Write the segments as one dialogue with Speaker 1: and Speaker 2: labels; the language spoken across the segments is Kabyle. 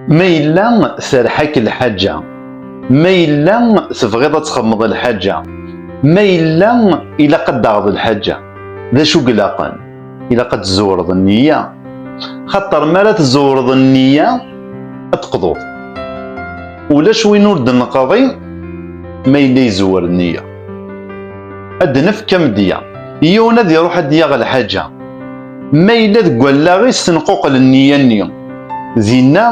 Speaker 1: Ma yella terḥa-k lḥaǧa, ma yella tebɣiḍ ad txedmeḍ lḥaǧa, ma yella ilaq ad d-taɣeḍ lḥaǧa, d acu i ilaqen? Ilaq ad tzewreḍ nniya, xaṭer mi ara tzewreḍ nniya ad teqḍuḍ. Ulac win ur d-neqḍi ma yella izewwer nniya. ad d-nefk amedya yiwen ad iruḥ ad d-yaɣ lḥaǧa ma yella deg wallaɣ-is tenquqel nniya-nni dinna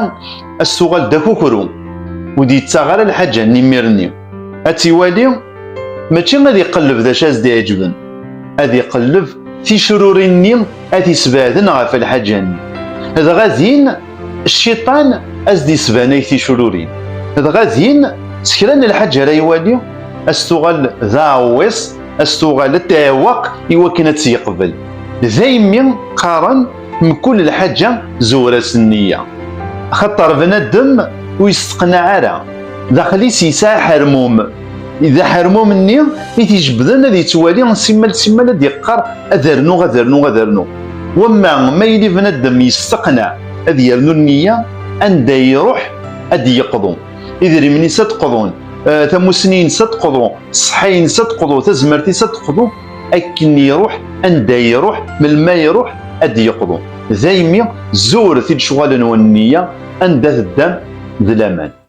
Speaker 1: ad s-tuɣal d akukru ur d-yettaɣ ara lḥaǧa-nni imir-nni ad tt-iwali mačči ad iqelleb d acu ad s-d-iɛeǧben ad iqelleb ticrurin-nni ad t-isbeɛden ɣef lḥaǧa-nni dɣa din Cciṭan as d-yesbanay ticrurin, dɣa din s kra n lḥaǧ ara iwali as tuɣal d aɛewwiṣ, as tuɣal ad tɛewweq i wakken ad tt-yeqbel. Daymi qqaren mkul lḥaǧa zuwr-as nniya. Axaṭer bnadem ur yesteqnaɛ ara, daxel-is yesɛa aḥermum. Iḍ aḥermum-nni i t-ijebbden ad yettwali simmal simmal ad yeqqar ad rnuɣ ad rnuɣ ad rnuɣ. Wamma ma yili bnadem yesteqneɛ ad yernu nniya, anda iruḥ ad d-yeqḍu. Idrimen-is ad qḍun, eh, tamussni-ines ad qḍu, ṣṣeḥḥa-ines ad qḍu, tazmert-is ad qḍu, akken iruḥ, anda iruḥ, melmi ara iruḥ ad d-yeqḍu. Daymi zur t-id-cɣalen wen nniya, anda teddam d laman.